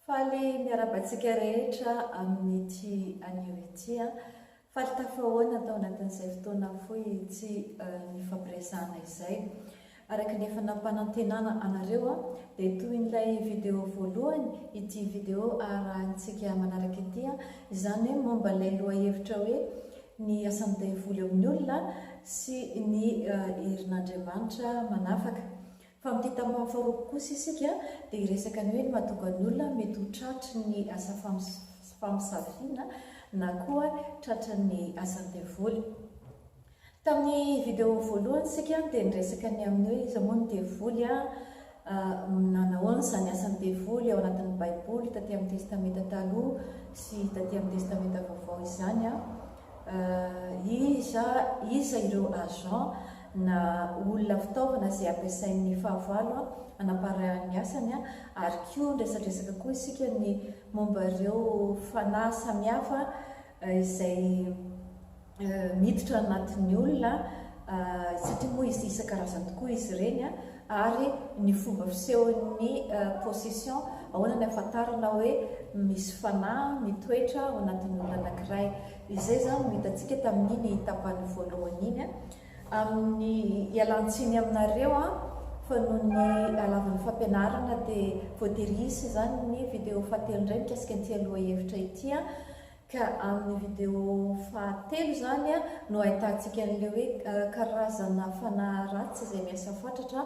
Faly miarahaba antsika rehetra amin'ity anio ity. Faly tafahoana tao anatin'izay fotoana fohy tsy nifampiresahana izay. Araka ny efa nampanantenana anareo dia tohin'ilay video voalohany ity video arahintsika manaraka ity, izany hoe momba ilay lohahevitra hoe ny asan'ny daivoly amin'ny olona sy ny herin'Andriamanitra manafaka. Fa amin'ity tampany faharoapolo kosa isika dia hiresaka ny hoe ny mahatonga ny olona mety ho tratry ny asa famosaviana na koa tratry ny asan'ny devoly. Tamin'ny video voalohany isika dia niresaka ny amin'ny hoe iza moa ny devoly a, nanahoana izany asan'ny devoly ao anatin'ny baiboly taty amin'ny testamenta taloha sy taty amin'ny testamenta vaovao izany a, iza iza ireo agents, na olona fitaovana izay ampiasain'ny fahavalo hanaparahany ny asany, ary koa ny resadresaka koa isika ny momba ireo fanahy samihafa izay miditra anatin'ny olona satria moa isan-karazany tokoa izy ireny, ary ny fomba fisehon'ny possession ahoana ny ahafantarana hoe misy fanahy mitoetra ao anatin'ny olona anankiray. Izay izany no hitantsika tamin'iny tapany voalohany iny, amin'ny ialan-tsiny aminareo fa noho ny halavan'ny fampianarana dia voatery hisy izany ny video fahatelo indray mikasika an'ity aloha hevitra ity, ka amin'ny video fahatelo izany no ahitantsika an'ilay hoe karazana fanahy ratsy izay miasa fatratra,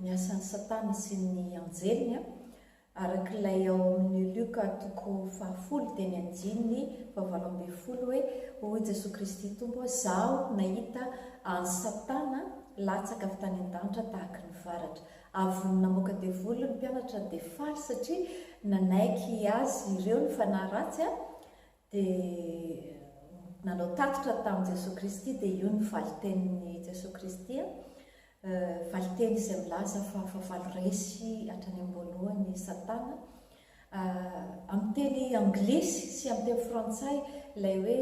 ny asan'i Satana sy ny anjeliny, araka ilay ao amin'ny Lioka toko fahafolo teny andininy fahavalo ambin'ny folo hoe, Hoy Jesoa Kristy Tompo hoe, Zaho nahita an'i Satana latsaka avy tany an-danitra tahaky ny varatra. Avon'ny namoaka devoly ny mpianatra dia faly satria nanaiky azy ireo ny fanahy ratsy dia nanao tatitra tamin'i Jesoa Kristy dia io ny valin-tenin'i Jesoa Kristy a, valin-teny izay milaza fa fahavalo resy hatrany am-boalohany i Satana. Amin'ny teny anglisy sy amin'ny teny frantsay ilay hoe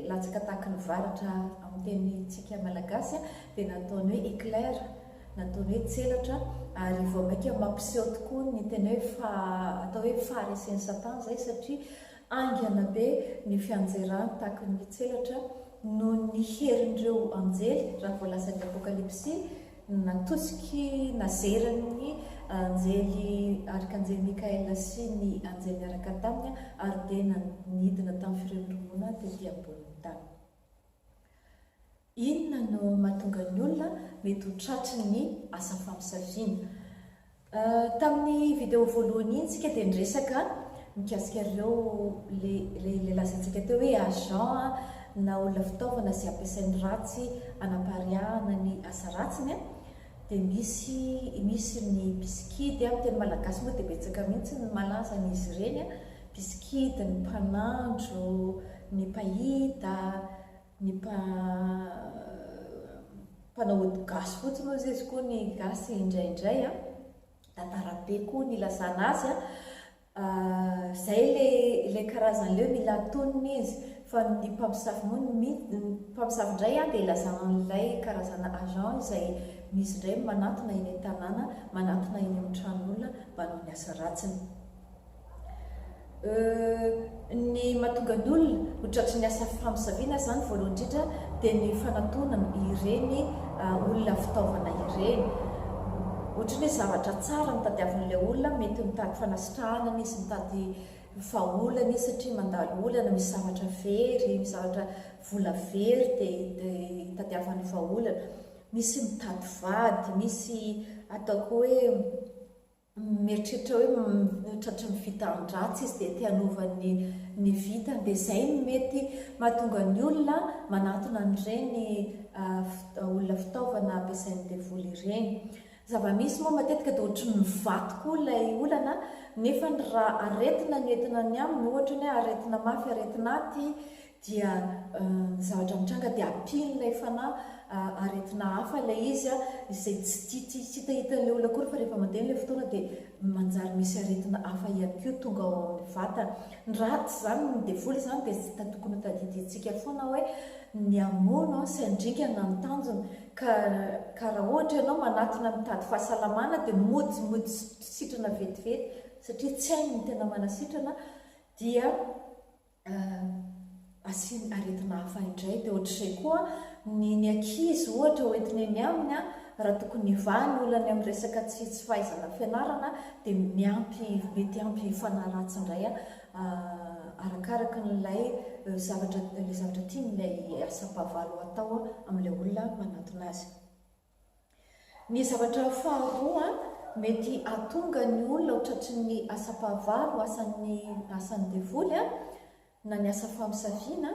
latsaka tahaky ny varatra amin'ny tenintsika malagasy a, dia nataony hoe éclair, nataony hoe tselatra ary vao mainka mampiseho tokoa ny tena hoe faha, atao hoe faharesen'i Satana izay satria Haingana be ny fianjeran takin' ny tselatra noho ny herin' ireo anjely raha voalazan' ny Apôkalipsy natosiky nazeran' ny anjely Arkanjely Mikaela sy ny anjely niaraka taminy ary dia nanidina tamin'ny firemirimoana tetỳ ambonin' ny tany. Inona no mahatonga ny olona mety ho tratry ny asa famosaviana? Tamin'ny video voalohany iny tsika dia niresaka mikasika ireo le le le lazaintsika teo hoe agent na olona fitaovana izay ampiasainy ratsy anapariahana ny asa ratsiny. Dia misy misy ny mpisikidy, amin'ny teny malagasy moa dia betsaka mihitsy ny malaza an'izy ireny, mpisikidy, ny mpanandro, ny mpahita, ny mpa mpanao ody gasy fotsiny hoy izy koa ny gasy indraindray an, tantara be koa ny ilazana azy an. Zay le ilay karazany leo mila tonony izy fa ny mpamosavy moa ny mpamosavy indray an dia ilazana an'ilay karazana agent izay misy indray manatona eny an-tanàna manatona eny amin'ny tranon'olona manao ny asa ratsiny euh Ny mahatonga ny olona ho tratry ny asa famosaviana izany voalohany indrindra dia ny fanatonana ireny olona fitaovana ireny. Ohatry ny hoe zavatra tsara no tadiavin'ilay olona, mety mitady fanasitrahana anie izy, mitady vahaolana izy satria mandalo olana, misy zavatra very, misy zavatra vola very dia itadiavany vahaolana. Misy mitady vady, misy atao koa hoe. mieritreritra hoe tratry ny vitan-dratsy izy dia te hanova ny ny vitany dia izay no mety mahatonga ny olona manatona an'ireny olona fitaovana ampiasain'ny devoly ireny. Zava-misy moa matetika dia ohatry ny vato koa ilay olana nefany raha aretina no entina ny aminy ohatra ny hoe aretina mafy aretina aty dia ny zavatra mitranga dia ampian'ilay fanahy aretina hafa ilay izy izay tsy tia tsy hitahita ilay olona akory fa rehefa mandeha ilay fotoana dia manjary misy aretina hafa ihany koa tonga ao amin'ny vatana. Ny ratsy izany, ny devoly izany dia tsy tokony hotadidiantsika foana hoe ny hamono sy handringana ny tanjony ka ka raha ohatra ianao manatona mitady fahasalamana dia mody mody sitrana vetivety satria tsy hainy ny tena manasitrana dia Asiany aretina hafa indray. Dia ohatr'izay koa ny ny ankizy ohatra hoentiny eny aminy raha tokony hivaha ny olany amin'ny resaka tsy tsy fahaizana fianarana dia miampy mety ampy hifanahy ratsy indray arakaraka an'ilay zavatra ilay zavatra tiany ilay asam-pahavalo hatao amin'ilay olona manatona azy. Ny zavatra faharoa mety hahatonga ny olona ho tratry ny asam-pahavalo ho asan'ny asan'ny devoly na ny asa famosaviana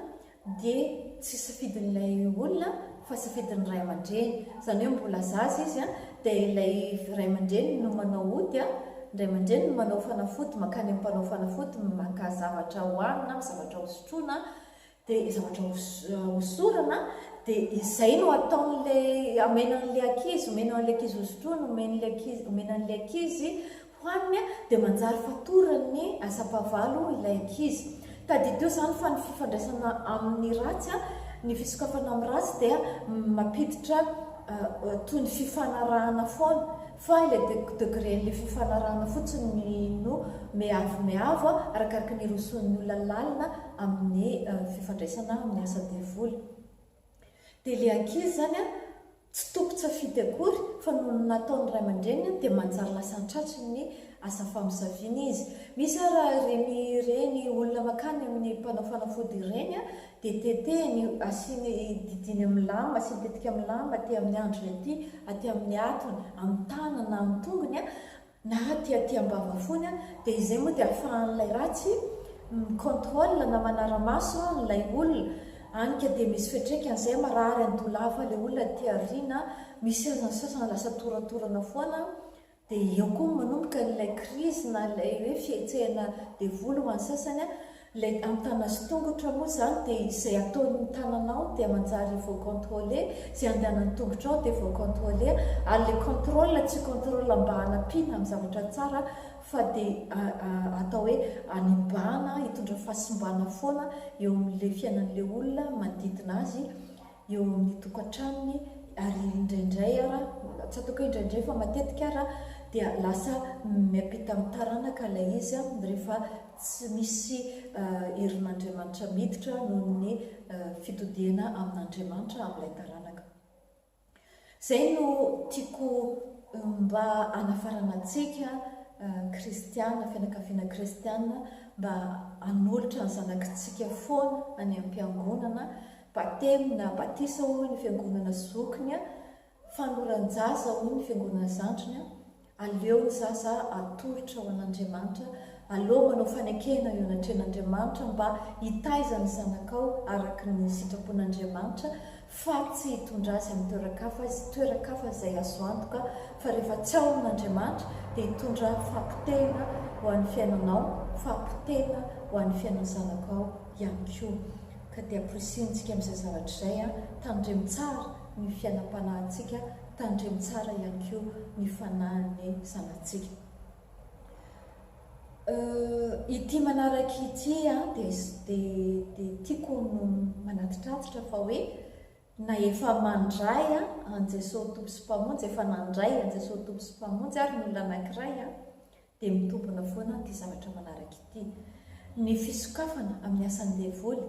dia tsy safidin'ilay olona fa safidin'ny ray aman-dreny, izany hoe mbola zaza izy dia ilay ray aman-dreny no manao ody, ny ray aman-dreny no manao fanafody mankany amin'ny mpanao fanafody maka zavatra hohanina, zavatra hosotroina dia zavatra hosorana dia izay no ataon'ilay amena an'ilay ankizy omena an'ilay ankizy hosotroina omen'ilay ankizy omena an'ilay ankizy hohaniny dia manjary fatoran'ny asam-pahavalo ilay ankizy tadidio izany fa ny fifandraisana amin'ny ratsy a ny fisokafana amin'ny ratsy dia mampiditra toy ny fifanarahana foana Fa ilay degren'ilay fifanarahana fotsiny no miavo miavo arakaraky ny hirosoan'ny olona lalina amin'ny fifandraisana amin'ny asa devoly. Dia ilay ankizy izany tsy tompon-tsafidy akory fa noho ny nataon'ny ray aman-dreniny dia manjary lasa an-tratsiny ny asa famosaviana izy. Misy ara ireny ireny olona mankany amin'ny mpanao fanafody ireny Dia tetehiny io, asiany, didiany amin'ny lamba, asiany tetika amin'ny lamba, aty amin'ny andriny aty, aty amin'ny hatony, amin'ny tanany na amin'ny tongony, na aty aty am-bava foana, dia izay moa dia ahafahan'ilay ratsy mi-contrôle na manara-maso an'ilay olona, any ka dia misy fiantraikany izay, marary andoha lava ilay olona aty aoriana, misy sasany lasa toratorana foana, Dia eo koa no manomboka an'ilay krizy na ilay hoe fihetsehana devoly ho an'ny sasany an! Ilay ampitana sy tongotra moa izany dia izay ataon'ny tananao dia manjary vao contrôlé, izay andehanan'ny tongotrao dia vao contrôlé ary ilay contrôle tsy contrôle mba hanampiana amin'ny zavatra tsara fa dia atao hoe hanembana, hitondra fahasimbana foana eo amin'ilay fiainan'ilay olona manodidina azy eo amin'ny tokantranony ary indraindray ara, tsy ataoko hoe indraindray fa matetika ara dia lasa miampita amin'ny taranaka ilay izy rehefa tsy misy herin'Andriamanitra miditra noho ny fitodihana amin'Andriamanitra amin'ilay taranaka. Zay no tiako mba hanafaranantsika kristiana, fianakaviana kristiana mba hanolotra ny zanakitsika foana any ampiangonana, batemy na batisa hoy ny fiangonana zokiny, fanoran-jaza hoy ny fiangonana zandriny, Aleo ny zaza atolotra ho an'Andriamanitra aloha manao fanekena eo anatrehan'Andriamanitra mba hitaiza ny zanakao araka ny sitrapon'Andriamanitra fa tsy hitondra azy amin'ny toeran-kafa izy, toeran-kafa izay azo antoka fa rehefa tsy ao amin'Andriamanitra dia hitondra fahapotehana ho an'ny fiainanao, fahapotehana ho an'ny fiainan'ny zanakao ihany koa. Ka dia porisihintsika amin'izay zavatra izay an, tandremo tsara ny fiainam-panahintsika Tandremo tsara ihany koa ny fanahin'ny zanatsika. Euh, ity manaraka ity an, dia dia tiako no manatitratitra fa hoe na efa mandray an, an'i Jesoa Tompo sy Mpamonjy, efa nandray an'i Jesoa Tompo sy Mpamonjy ary ny olona anankiray an, dia mitombina foana ity zavatra manaraka ity. Ny fisokafana amin'ny asan'ny devoly,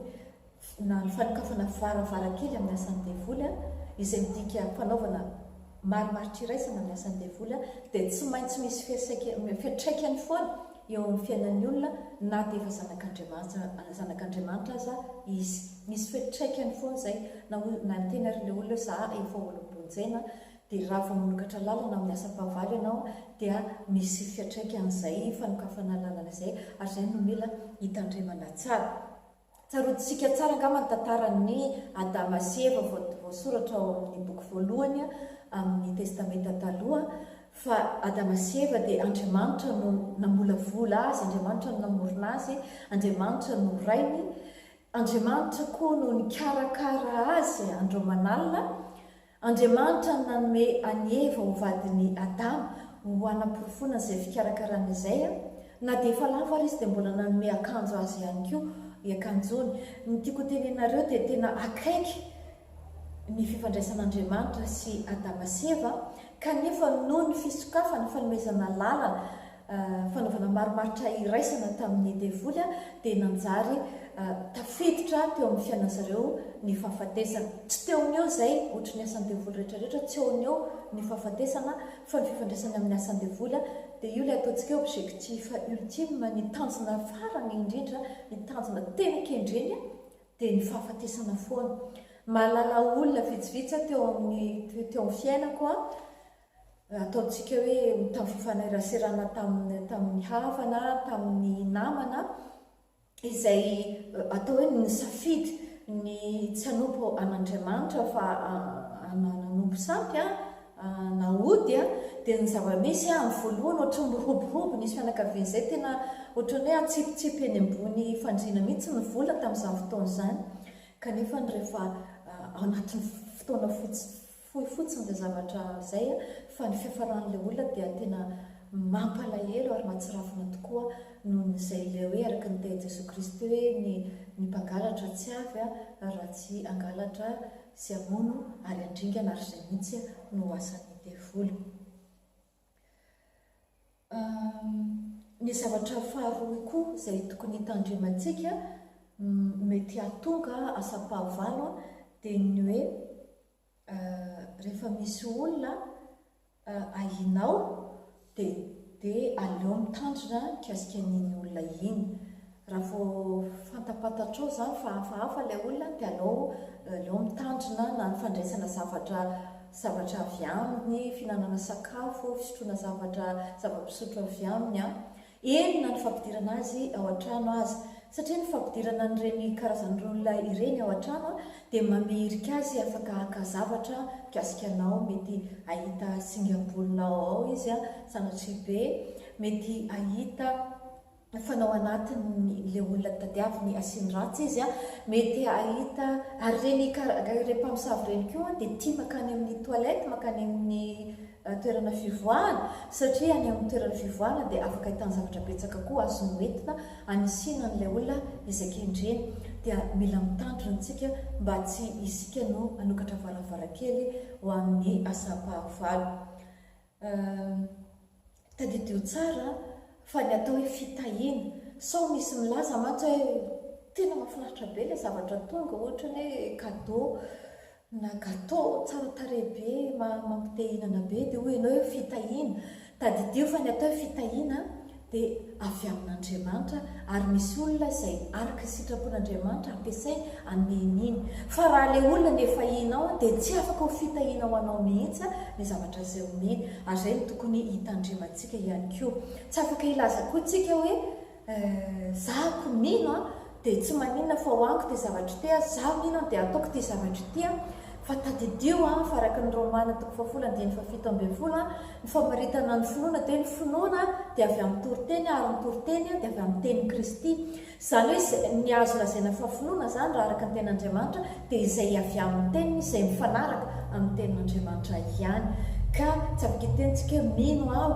na ny fanokafana varavarankely amin'ny asan'ny devoly, izay midika fanaovana marimaritra iraisana amin'ny asan'ny devoly, dia tsy maintsy misy fiantraikany foana eo amin'ny fiainan'ny olona na dia efa zanak'Andriamanitra zanak'Andriamanitra aza izy. Misy fiantraikany foana izay na hoy na niteny ary ilay olona hoe za efa olom-bonjena dia raha vao manokatra lalana amin'ny asam-pahavalo ianao dia misy fiatraikan'izay fanokafana lalana izay ary izay no mila hitandremana tsara. Tsaroantsika tsara angamba ny tantaran'i Adama sy Eva voasoratra ao amin'ny boky voalohany amin'ny Testamenta Taloha fa Adama sy Eva dia Andriamanitra no namolavola azy, Andriamanitra no namorona azy, Andriamanitra no rainy, Andriamanitra koa no nikarakara azy andro aman'alina, Andriamanitra no nanome an'i Eva ho vadin'i Adama ho hanaporofoana izay fikarakarana izay. Na dia efa lavo ary izy dia mbola nanome akanjo azy ihany koa, iakanjony. Ny tiako hotenenareo dia tena akaiky ny fifandraisan'Andriamanitra sy Adama sy Eva, kanefa noho ny fisokafana, fanomezana lalana fanaovana marimaritra iraisana tamin'ny devoly dia nanjary tafiditra teo amin'ny fiainan'ny zareo ny fahafatesana. Tsy teo ny eo izay, ohatry ny asan'ny devoly rehetra rehetra, tsy eo ny eo ny fahafatesana fa ny fifandraisany amin'ny asan'ny devoly dia io ilay ataontsika hoe objectif ultime, ny tanjona farany indrindra, ny tanjona tena kendreny dia ny fahafatesana foana. Mahalala olona vitsivitsy aho teo amin'ny teo amin'ny fiainako ataontsika hoe tamin'ny fifaneraserana tamin'ny tamin'ny havana, tamin'ny namana, izay atao hoe nisafidy ny tsy hanompo an'Andriamanitra fa nanompo sampy na ody dia ny zava-misy amin'ny voalohany ohatran'ny miroborobo nisy fianakaviana izay tena ohatran'ny hoe atsipitsipy eny ambony fandriana mihitsy ny vola tamin'izany fotoana izany kanefa rehefa ao anatin'ny fotoana fotsiny Fohy fotsiny izay zavatra izay fa ny fiafaran'ilay olona dia tena mampalahelo ary mahatsirafina tokoa noho ny izay ilay hoe araka ny tehin'i Jesoa Kristy hoe ny ny mpangalatra tsy avy raha tsy hangalatra sy hamono ary handringana ary izay mihitsy no asan'ny devoly. Ny zavatra faharoa koa izay tokony hitandremantsika mety hahatonga asam-pahavalo dia ny hoe rehefa misy olona ahianao dia aleo mitandrina mikasika an'iny olona iny. Raha vao fantapantatrao izany fa hafahafa ilay olona dia aleo aleo mitandrina na ny fandraisana zavatra zavatra avy aminy, fihinanana sakafo, fisotroana zavatra zava-pisotro avy aminy an. Eny na ny fampidirana azy ao an-trano aza. Satria ny fampidirana an'ireny karazan'ireny olona ireny ao an-trano dia mameirika azy afaka haka zavatra mikasika anao, mety hahita singam-bolonao ao izy an, sanatria be, mety hahita. Fanao anatiny le olona tadiaviny asiany ratsy izy an! Mety ahita ary reny ikaranga ireny mpamosavy reny koa dia tia makany amin'ny toilette makany amin'ny toerana fivoahana satria any amin'ny toerana fivoahana dia afaka ahitany zavatra betsaka koa azo noentina hanisiana an'ilay olona izay kendreny dia mila mitandrina tsika mba tsy isika no hanokatra varavarankely ho amin'ny asam-pahavalo Ahh. Tadidio tsara fa ny atao hoe fitahiana sao misy milaza mantsy hoe tena mahafinaritra be ilay zavatra tonga ohatra ny hoe cadeau na gateau tsara tarehy be mampite hihinana be dia hoy ianao hoe fitahiana. Tadidio fa ny atao hoe fitahiana dia avy amin'Andriamanitra ary misy olona izay araka ny sitrapon'Andriamanitra ampiasainy hanome iny. Fa raha ilay olona nefahinao dia tsy afaka ho fitahiana ho anao mihitsy ny zavatra izay omeny ary izay no tokony hitandremantsika ihany koa. Tsy afaka hilaza koa tsika hoe, eh, za ko mino an, Dia tsy maninona fa ho amiko ity zavatra ity a, izaho hinon dia hataoko ity zavatra ity a, fa tadidio a, fa araka ny Romana toko fahafolo andininy fahafito ambin'ny folo a, ny famaritana ny finoana dia hoe ny finoana dia avy amin'ny toriteny ary ny toriteny dia avy amin'ny tenin'i Kristy. Izany hoe izay, ny azo lazaina fa finoana izany raha araka ny tenin'Andriamanitra, dia izay avy amin'ny teniny izay mifanaraka amin'ny tenin'Andriamanitra ihany. Ka tsy afaka hiteny tsika hoe mino aho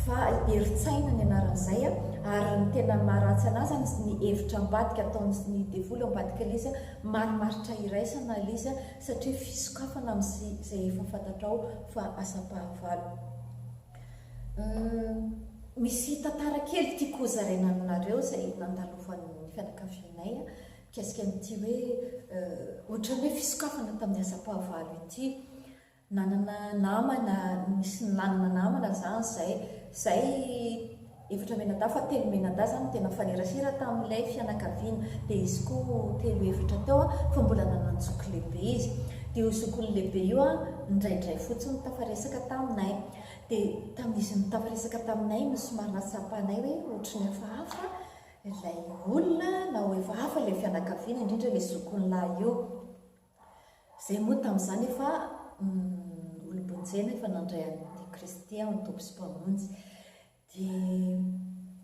fa herin-tsaina ny anaran'izay a! ary ny tena maha ratsy an'azy izany ny hevitra ambadika ataon'ny devoly ao ambadika lzy a! marimaritra iraisana lzy a! satria fisokafana amin'izay efa fantatrao fa asam-pahavalo. Hum misy tantara kely tiako hozaraina aminareo izay nandalovan' ny fianakavianay a! Mikasika an'ity hoe ohatran'ny hoe fisokafana tamin'ny asam-pahavalo ity, nanana namana, nisy nanana namana izany izay, izay efatra mianadahy fa telo mianadahy izany no tena mifanerasera tamin'ilay fianakaviana, dia izy koa telo efatra teo fa mbola nanan-joky lehibe izy, dia io zokiny lehibe io indraindray fotsiny tafaresaka taminay, dia tamin'izy nitafaresaka taminay no somary nahatsapanay hoe ohatry ny hafahafa Ilay olona na hoe efa hafa ilay fianakaviana, indrindra ilay zokiny lahy io. Izay moa tamin'izany efa olom-bonjena efa nandray an'i Kristy ho Tompo sy Mpamonjy. Dia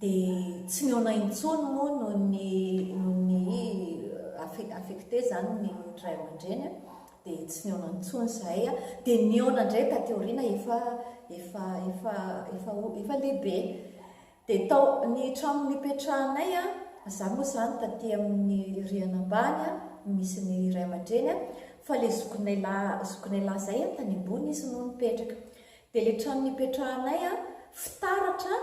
dia tsy mihaona intsony moa noho ny noho ny affe- affecté izany ny ray aman-dreny a, dia tsy nihaona intsony izahay a. Dia nihaona indray taty aoriana efa efa efa efa o- efa lehibe. Dia tao ny trano nipetrahanay, izaho moa izany taty amin'ny rihana ambany no misy ny ray aman-dreny fa ilay zokinay lahy zokinay lahy izay tany ambony izy no nipetraka. Dia ilay trano nipetrahanay fitaratra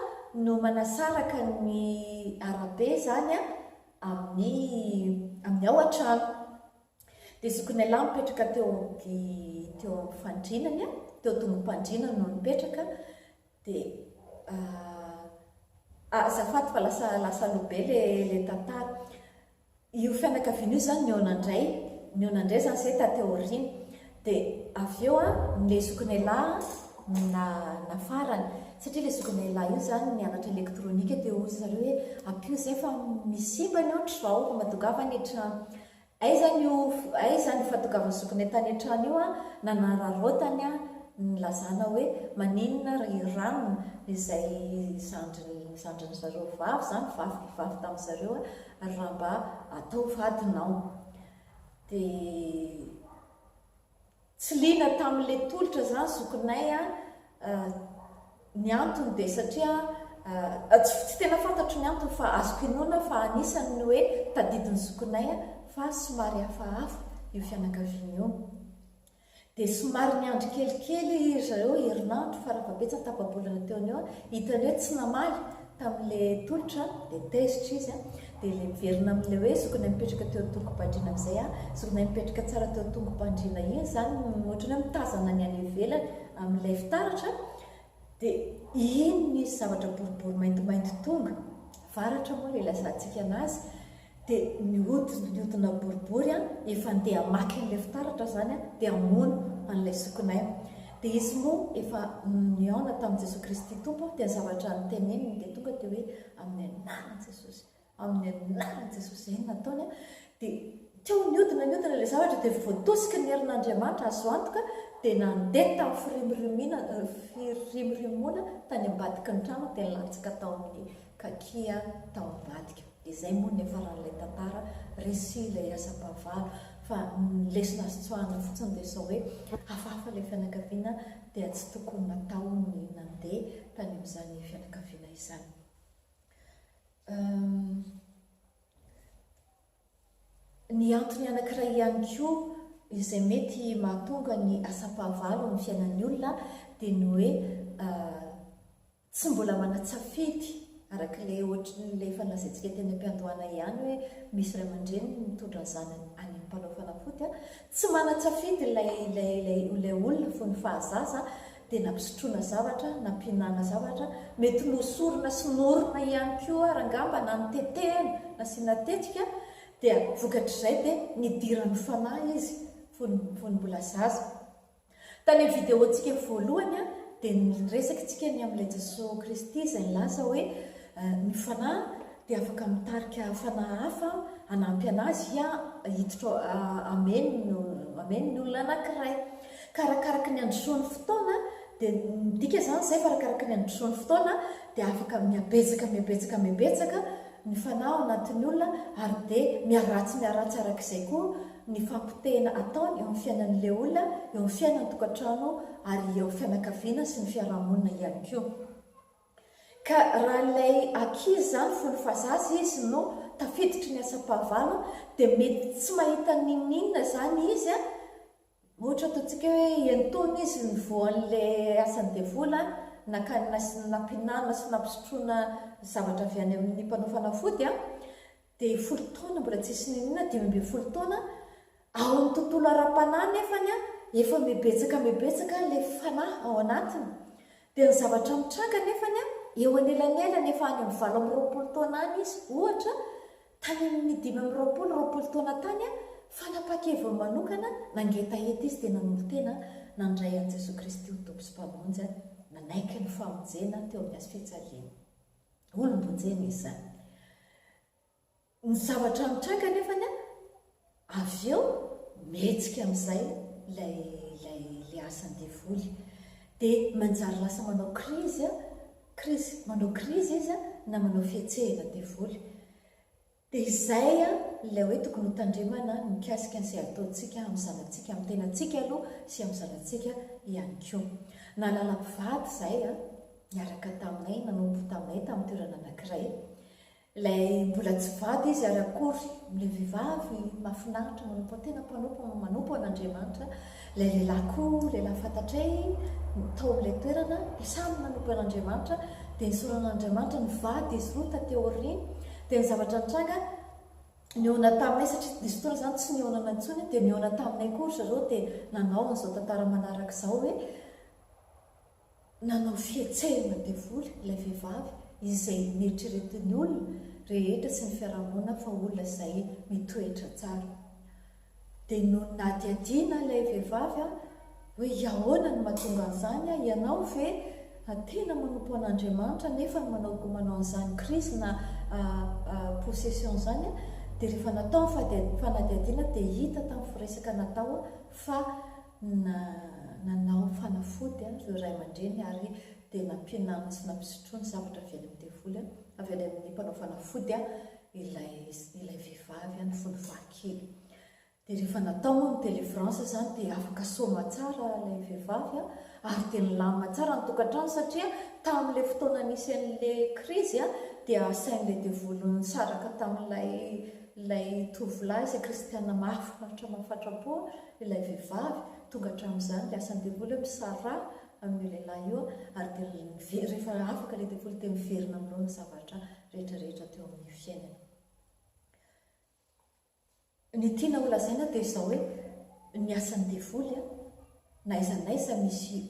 no manasaraka ny arabe izany amin'ny amin'ny ao an-trano. Dia zokinay lahy mipetraka teo amin'ny teo amin'ny fandriana, teo am-tongom-pandriana no nipetraka. Dia ah ah azafady fa lasa lasa aloha be le le tantara. Io fianakaviana io zany nihaona indray nihaona indray zany zay taty aoriana. Dia avy eo an le zokinailahy an na nafarany satria le zokinailahy io zany nianatra elektronika dia hoy zareo hoe ampio zay fa misy simba ny aotr'izao fa mahatongava ny trano. Aiza ny o aiza ny fahatongavan'i Zokinay tany an-trano io an, nanararaotany an, nilazana hoe maninona ry Hiram izay zandriny zandriny zareo vavy zany vavy ry vavy tamin'ny zareo an, raha mba ataovy vadinao. Dia. Tsy liana tamin le tolotra zany zokinay a, ny antony dia satria a, tsy tsy tena fantatro ny antony fa azoko inoana fa anisany ny hoe tadidin'ny zokinay a fa somary hafahafa io fianakaviana io. Dia somary niandry kelikely ry zareo herinandro fara fahabetsany tapa-bolana teo an'io a, hitany hoe tsy namaly Tamin'ilay tolotra dia tezitra izy an! Dia ilay miverina amin'ilay hoe zokinay mipetraka teo an-tongo-pandriana amin'izay an! Zokinay mipetraka tsara teo an-tongo-pandriana iny izany ohatran'ny hoe mitazana ny any ivelany amin'ilay fitaratra dia iny misy zavatra boribory maintimainty tonga, varatra moa ilay ilazantsika anazy, dia mihodina mihodina boribory an, efa andeha hamaky an'ilay fitaratra aho izany an, dia hamono an'ilay zokinay aho. Dia izy moa efa nihaona tamin'i Jesoa Kristy Tompo, dia ny zavatra noteneniny dia tonga dia hoe, amin'ny anaran'i Jesosy, amin'ny anaran'i Jesosy, izay no nataony an, dia teo nihodina nihodina ilay zavatra dia voatosiky ny herin'Andriamanitra, azo antoka, dia nandeha tamin'ny firimorimiana, firimorimoana tany ambadiky ny trano dia nilatsaka tao amin'ny kaki aho tao ambadika. Dia zay moa ny niafaran'ilay tantara, resy ilay asam-pahavalo, fa ny lesona azo tsoahina fotsiny dia sao hoe hafahafa ilay fianakaviana dia tsy tokony natao ny nandeha tany amin'izany fianakaviana izany. Ny antony anankiray ihany koa izay mety mahatonga ny asam-pahavalo amin'ny fiainan'ny olona dia ny hoe Tsy mbola manan-tsafidy, arak'ilay ohatrin'ilay efa lazaintsika teny am-piandohana ihany hoe misy ray aman-dreny mitondra ny zanany any amin'ny mpanao fanafody a! Tsy manan-tsafidy ilay ilay ilay ilay olona fony fahazaza dia nampisotroina zavatra, nampihinana zavatra, mety nohosorina sy nohorina ihany koa ary angamba na notetehana, nasiana tetika, dia vokatr'izay dia nidiran'ny fanahy izy fony fony mbola zaza. Tany amin'ny videontsika voalohany dia niresaka isika ny amin'ilay Jesoa Kristy izay nilaza hoe ny Fanahy dia afaka mitarika fanahy hafa hanampy an'Azy hiditra amin amin ny olona anankiray. Ka arakaraka ny handrosoan'ny fotoana dia midika izany izay fa arakaraka ny handrosoan'ny fotoana dia afaka mihabetsaka mihabetsaka mihabetsaka mifanahy ao anatin'ny olona ary dia miharatsy miharatsy araka izay koa ny fampotehina ataony eo amin'ny fiainan'ilay olona, eo amin'ny fiainan-tokantrano ary eo amin'ny fianakaviana sy ny fiaraha-monina ihany koa. Ka raha ilay ankizy izany fony fa zaza izy no tafiditry ny asam-pahavalo dia mety tsy mahita n'inon'inona izany izy Ohatra ataontsika hoe entoana izy ny voan'ilay asan'ny devoly an, nakany nasiny nampihinanana sy nampisotroina zavatra avy any amin'ny mpanao fanafody an, dia folo taona mbola tsisy niniana, dimy ambin'ny folo taona, ao amin'ny tontolo ara-panahy nefany an, efa mibetsaka mibetsaka ilay fanahy ao anatiny, dia ny zavatra mitranga nefany an, eo anelanelan'ny efa any amin'ny valo amby roapolo taona any izy, ohatra, Tany amin'ny dimy amby roapolo roapolo taona tany, fanapahan-keviny manokana, nangetaheta izy dia nanolo-tena nandray an'i Jesoa Kristy ho Tompo sy Mpamonjy, nanaiky ny famonjena teo amin'ny hazofijaliany. Olom-bonjena izy izany. Ny zavatra nitranga anefa, Avy eo mihetsika amin'izay ilay ilay ilay asan'ny devoly. Dia manjary lasa manao krizy a, krizy, manao krizy izy a, na manao fihetsehana ny devoly. Dia izay a, ilay hoe tokony hotandremana ny mikasika izay ataontsika amin'ny zanatsika, amin'ny tenantsika aloha sy amin'ny zanatsika ihany koa. Nahalala mpivady izahay a, niaraka taminay, nanompo taminay tamin'ny toerana anankiray. Ilay mbola tsy vady izy ary akory, ilay vehivavy mahafinaritra manompo tena mpanompo manompo an'Andriamanitra, ilay lehilahy koa lehilahy fantatray tao amin'ilay toerana dia samy nanompo an'Andriamanitra dia nisaorana an'Andriamanitra, nivady izy roa taty aoriana dia ny zavatra nitranga nihaona taminay satria nisy fotoana izany tsy nihaonana intsony dia nihaona taminay koa ry zareo dia nanao an'izao tantara manaraka izao hoe Nanao fihetsehana devoly ilay vehivavy izay neritreretin'ny olona rehetra sy ny fiarahamonina fa olona izay mitoetra tsara. Dia nohadihadiana ilay vehivavy hoe ahoana no mahatonga an'izany, ianao ve tena manompo an'Andriamanitra nefa manao manao an'izany crise na possession izany, dia rehefa natao ny fanadihadiana dia hita tamin'ny firesaka natao fa na nanao fanafody ireo ray aman-dreny ary dia nampianany sy nampisotroany zavatra avy any amin'ny devoly, avy any amin'ny mpanao fanafody, ilay ilay vehivavy, ny fony faha-kely. Dia rehefa natao moa ny délivrance izany dia afaka soma tsara ilay vehivavy ary dia nilamina tsara ny tokantrano satria tamin'ilay fotoana nisy an'ilay krizy dia asain'ilay devoly nisaraka tamin'ilay ilay tovolahy izay kristiana mahafinaritra mahafatra-po Ilay vehivavy, tonga hatramin'izany ilay asan'ny devoly hoe misaraha amin'io lehilahy io ary dia mive, rehefa afaka ilay devoly dia miverina amin'ireo ny zavatra rehetra rehetra teo amin'ny fiainany. Ny tiana ho lazaina dia izao hoe, ny asan'ny devoly an, na aiza na aiza misy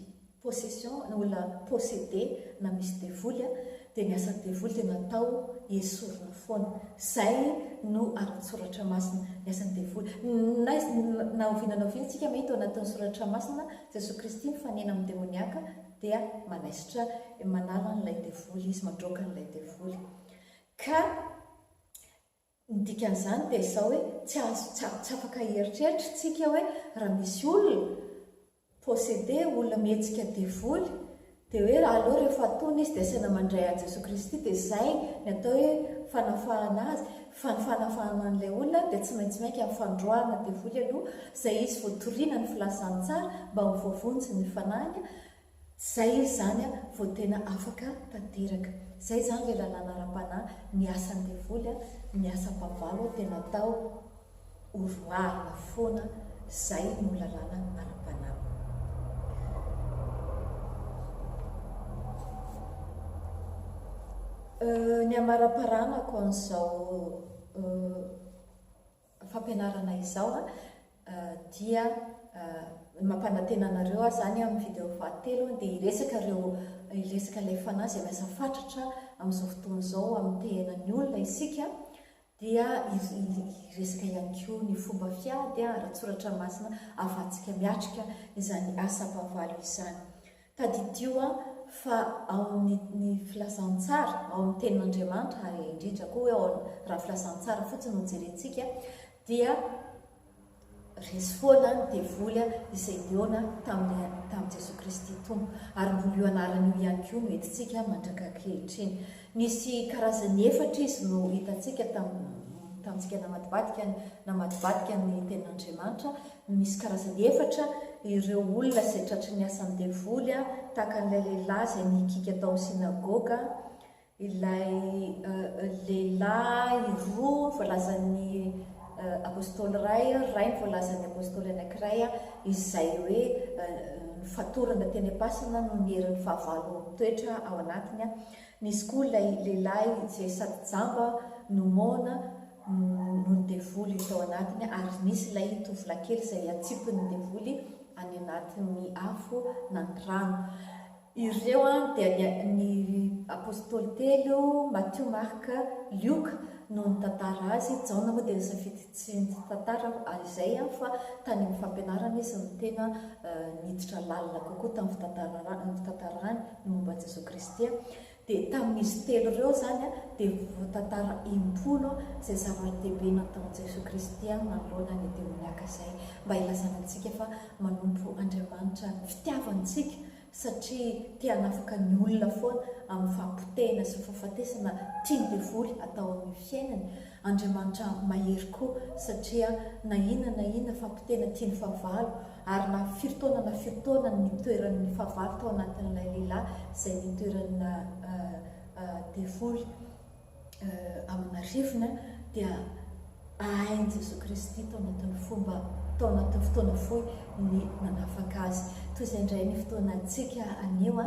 possession na olona possédé na misy devoly a, dia ny asan'ny devoly dia natao hiesorina foana, izay no ara-tsoratra masina, ny asan'ny devoly, na izy na oviana na oviana isika mahita ao anatin'ny soratra masina, Jesoa Kristy mifanena amin'ny demoniaka dia manaisotra, manala an'ilay devoly izy, mandroaka an'ilay devoly, ka. Ny dikan'izany dia izao hoe tsy azo tsy tsy afaka hieritreritra tsika hoe raha misy olona possédé olona mihetsika devoly dia hoe aleo rehefa atony izy dia asaina mandray an'i Jesoa Kristy dia izay ny atao hoe fanafahana azy fa ny fanafahana an'ilay olona dia tsy maintsy miainga amin'ny fandroahana devoly aloha izay izy vao toriana ny filazantsara mba ho voavonjy ny fanahiny Zay izy zany a vao tena afaka tanteraka. Zay zany le lalàna ara-panahy ny asan'ny devoly a ny asam-pavalo tena atao horoahina foana zay no lalàna ara-panahy. Euh ny amaraparanako an'zao euh. fampianarana izao a dia mampanantena anareo aho zany amin'ny video fahatelo dia hiresaka ireo hiresaka ilay fanahy izay miasa fatratra amin'izao fotoana izao amin'ny tehenan'ny olona isika dia hiresaka ihany koa ny fomba fiady ara-tsoratra masina ahafahantsika miatrika izany asam-pahavalo izany Tadidio an, fa ao amin'ny ny Filazantsara, ao amin'ny Tenin'Andriamanitra, ary indrindra koa hoe ao amin'ny, raha Filazantsara fotsiny no jerentsika, dia resy foana ny devoly an, izay nihaona tamin'i, tamin'i Jesoa Kristy Tompo. Ary mbola io anarana io ihany koa no entintsika mandraka ankehitriny. Nisy karazany efatra izy no hitantsika tam, tamintsika namadibadika ny, namadibadika ny Tenin'Andriamanitra, Misy karazany efatra ireo olona izay tratry ny asan'ny devoly, tahaka an'ilay lehilahy izay nihikiaka tao amin'ny synagoga, ilay lehilahy roa voalazan'ny apostoly iray, iray no voalazan'ny apostoly anankiray, izay hoe nofatorana teny am-pasana noho ny herin'ny fahavalo mitoetra ao anatiny. Nisy koa ilay lehilahy izay sady jamba no moana, noho ny devoly tao anatiny ary nisy ilay tovolahy kely izay atsipin'ny devoly any anatin'ny afo na ny rano. Ireo dia ny, ny apostoly telo, Matio, Marka, Lioka no nitantara azy. Jaona moa dia nisafidy tsy nitantara ary izay fa tany amin'ny fampianarana izy no tena niditra lalina kokoa tamin'ny fitantarana, ny fitantarany ny momba an'i Jesoa Kristy. Dia tamin'izy telo ireo izany dia voatantara impolo izay zava-dehibe nataon'i Jesoa Kristy manoloana ny demoniaka izay mba hilazana antsika fa manompo Andriamanitra ny fitiavantsika satria te hanafaka ny olona foana amin'ny fahapotehina sy fahafatesana tian'ny devoly atao amin'ny fiainany. Andriamanitra mahery koa satria na inona na inona fahapotehina tian'ny fahavalo Ary na firy taona na firy taona ny nitoeran'ny fahavalo tao anatin'ilay lehilahy izay nitoeran'ny devoly amin'arivony, dia ahain'i Jesoa Kristy tao anatin'ny fomba, tao anatin'ny fotoana fohy ny nanafaka azy. Toy izay indray ny fotoanantsika anio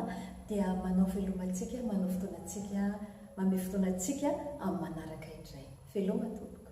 dia manao veloma antsika, manao fotoana antsika, manome fotoana antsika amin'ny manaraka indray. Veloma tompoko.